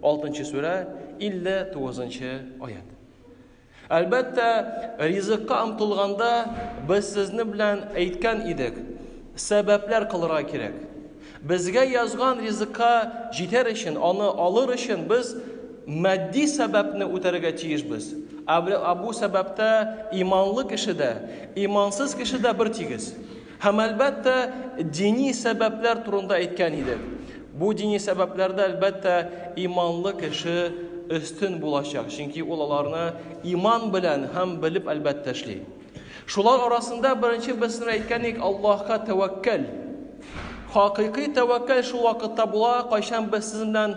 Алтынчы сүрә, 59 нчы аят. Әлбәттә, ризыкка омтылганда без сезне белән әйткән идек, сәбәпләр кылырга кирәк. Безгә язган ризыкка җитәр өчен, аны алыр өчен без матди сәбәпне үтәргә тиешбез. Ә бу сәбәптә иманлы кеше дә, имансыз кеше дә бер тигез. Һәм, әлбәттә, дини сәбәпләр турында әйткән идек. Бу дини сәбәпләрдә, әлбәттә, иманлы кеше өстен булачак, чөнки ул аларны иман белән һәм белеп, әлбәттә, эшли. Шулар арасында беренче берсен әйткән идек, Аллаһка тәвәккәл. Хакыйкый тәвәккәл шул вакытта була, кайчан без сезнең белән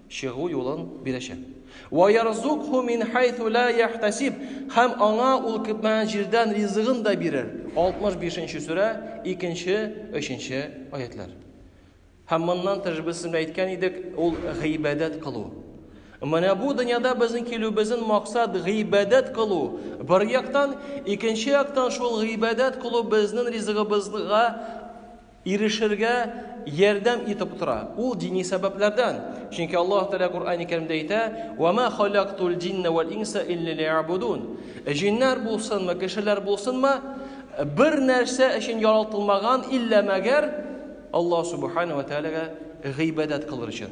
чыгу юлын бирәчәк. Вә ярзукху мин хайсу ла яхтасиб. Һәм аңа ул көтмәгән җирдән ризыгын да бирер. 65 нче сүрә, 2 нче, 3 нче аятьләр. Һәм моннан тыш без сезгә әйткән идек, ул гыйбадәт кылу. Менә бу дөньяда безнең килүебезнең максат гыйбадәт кылу. Бер яктан, икенче яктан шул гыйбадәт кылу безнең ризыгыбызга ирешергә ярдәм итеп тора. Ул дини сәбәпләрдән. Чөнки Аллаһ Тәгалә Коръәни Кәримдә әйтә, Вә мә халәктул җиннә вәл инса илля лиябудун. Җиннәр булсынмы, кешеләр булсынмы, бер нәрсә өчен яралтылмаган, иллә мәгәр Аллаһ Сүбхәнәһү вә Тәгаләгә гыйбадәт кылыр өчен.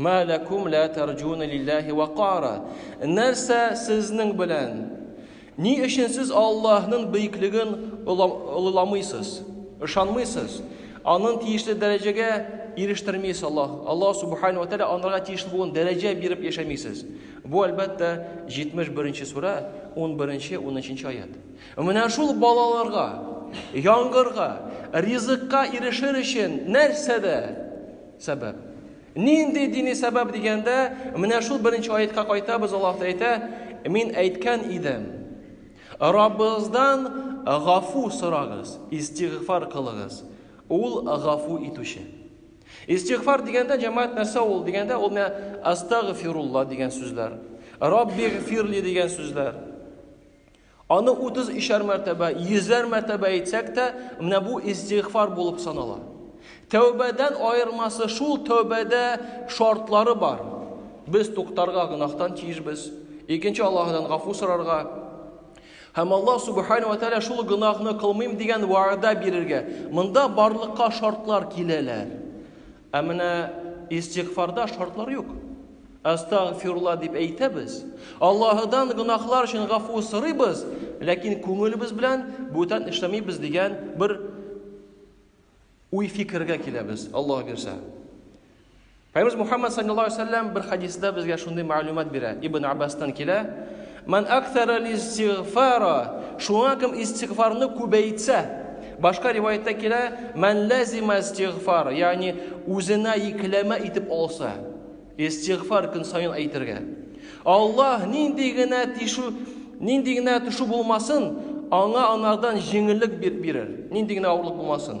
Мә ләкүм лә тәрҗүнә лилләһи вәкара? Нәрсә сезнең белән? Ни өчен сез Аллаһның бөеклеген олыламыйсыз, ышанмыйсыз, аның тиешле дәрәҗәгә ирештермисез Аллаһ, Аллаһ субхана ва тәгалә анарга тиешле булган дәрәҗә биреп яшәмисез? Бу әлбәттә 71-нче сүрә, 11-нче, 13-нче аят. Менә шул балаларга, яңгырга, ризыкка ирешер өчен нәрсәдә Сәбәп. Нинди дини сәбәп дигәндә, менә шул беренче аятка кайтабыз, Аллаһ әйтә, мин әйткән идем. Раббыгыздан гафу сорагыз, истигъфар кылыгыз. Ул гафу итүче. Истигъфар дигәндә җәмәгать нәрсә ул дигәндә, ул менә астагфирулла дигән сүзләр. Раббигъфирли дигән сүзләр. Аны утыз өчәр мәртәбә, йөзәр мәртәбә әйтсәк тә, менә бу истигъфар булып санала. Тәүбәдән аермасы шул, тәүбәдә шартлары бар. Без туктарга гөнаһтан тиешбез. Икенче Аллаһыдан гафу сорарга. Һәм Аллаһ субхана ва тәгалә шул гөнаһны кылмыйм дигән вәгъдә бирергә. Монда барлыкка шартлар киләләр. Ә менә истигъфарда шартлар юк. Астагъфирулла дип әйтәбез, Аллаһыдан гөнаһлар өчен гафу сорыйбыз, ләкин күңелебез белән бүтән эшләмибез дигән бер уй-фикергә киләбез, Аллаһ бирсә. Пәйгамбәрбез Мухаммад саллаллаһу алейһи ва сәлләм бер хадисында безгә шундый мәгълүмат бирә. Ибн Аббастан килә, Ман аксара листигъфара, шуңа кем истигъфарны күбәйтсә. Башка риваятьтә килә, Ман ләзима истигъфара, ягъни үзенә йөкләмә итеп алса, истигъфар көн саен әйтергә. Аллаһ нинди генә тишу, нинди генә төшү булмасын, аңа анардан җиңеллек бирер, нинди генә авырлык булмасын.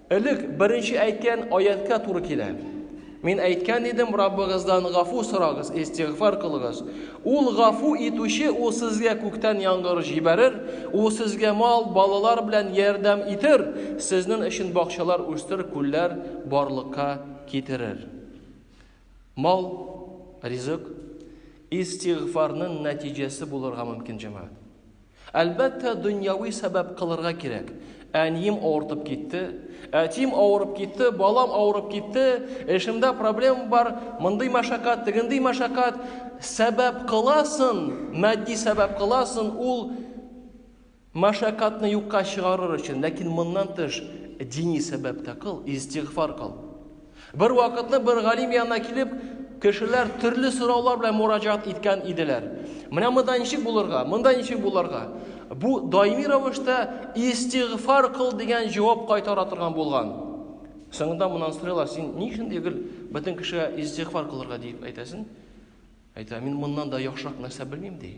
Элек беренче әйткән аятькә туры килә. Мин әйткән идем, Раббыгыздан гафу сорагыз, истигъфар кылыгыз. Ул гафу итүче, ул сезгә күктән яңгыр җибәрер, ул сезгә мал, балалар белән ярдәм итер, сезнен өчен бакчалар үстерер, күлләр барлыкка китерер. Мал, ризык, истигъфарнын нәтиҗәсе булырга мөмкин, җәмәгать. Әлбәттә, дөньяви сәбәп кылырга кирәк. Әнием авыртып китте, әтием авырып китте, балам авырып китте, эшемдә проблема бар, мондый мәшәкать, тегендый мәшәкать, сәбәп кыласын, матди сәбәп кыласын, ул Мәшәкатьне юкка чыгарыр өчен, ләкин моннан тыш дини сәбәп тә кыл, истигъфар кыл. Бер вакытны бер галим янына килеп, кешеләр төрле сораулар белән мураҗаат иткән иделәр. Менә монда ничек булырга, монда ничек булырга? Бу даими рәвештә истигъфар кыл дигән җавап кайтара торган булган. Соңында моннан сорыйлар, син ни өчен дигел бөтен кешегә истигъфар кылырга дип әйтәсең? Әйтә, мин моннан да яхшырак нәрсә белмим ди.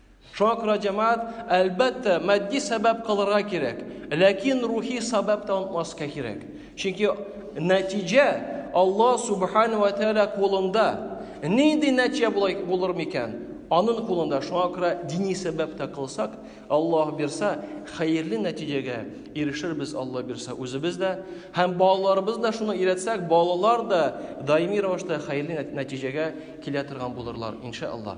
Шуңа күрә, җәмәгать, әлбәттә, матди сәбәп кылырга кирәк, ләкин рухи сәбәп тә онытмаска кирәк. Чөнки нәтиҗә Алла субхана ва тәала кулында. Нинди нәтиҗә булай булыр микән? Аның кулында. Шуңа күрә дини сәбәп тә кылсак, Аллаһ бирса, хәерле нәтиҗәгә ирешербез, Алла бирса, үзебез дә һәм балаларыбыз да шуны өйрәтсәк, балалар да даими рәвештә хәерле нәтиҗәгә килә торган булырлар, иншаллаһ.